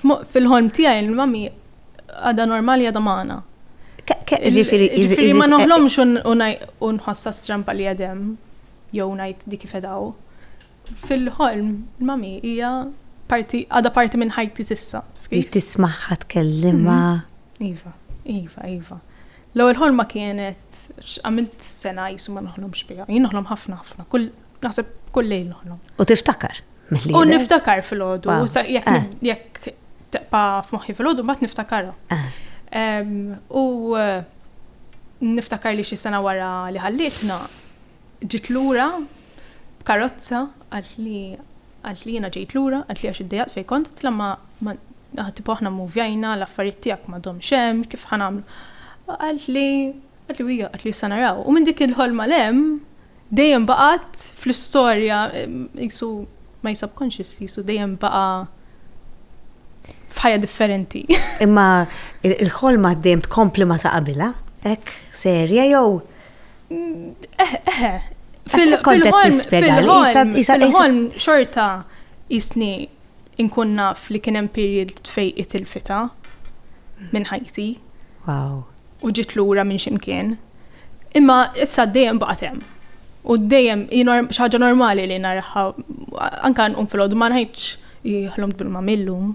Fil-ħolm tiegħi il-Mummy għadha normali għadha magħna. Ġifieri, ġifieri ma noħlomx u nħossha strampa li qed hemm jew ngħid dik ifedaw. Fil-ħolm il-Mummy hija parti għadha parti minn ħajti tissa. Biex tismaħħa tkellimha. Mhm. Iva, iva, iva. L-ewwel ħolma kienet għamilt sena jisu ma noħlomx biha. Jien noħlom ħafna ħafna. Kull naħseb kull lejl noħlom. U tiftakar? U niftakar fil-ħodu, eh. jekk taqpa f'moħħi fil-ħodu, bat niftakar. Eh. U eh, niftakar li xi sena wara li ħallitna, ġit lura b'karozza għalt li għalt li jena ġejt lura, għalt li għax id-dejat fej kont, tlamma għati poħna muvjajna, l-affarijiet tijak ma dom xem, kif ħanamlu. Għalt li, għalt li għalt li sanaraw. U minn dik il-ħolma lem, dejjem baqgħet fl-istorja qisu my subconscious qisu dejjem baqa' f'ħajja differenti. Imma il-ħolma dejjem tkompli ma ta' qabilha, hekk serja jew eh, eh, eh. fil-ħolm fil-ħolm xorta jisni inkun naf li kien hemm period fejn itilfita minn ħajti. Wow. u ġiet lura minn x'imkien. Imma issa dejjem baqgħet hemm. U dejjem xi ħaġa normali li naraha anke nqum filgħodu ma ngħidx ħlomt bil-ma millum.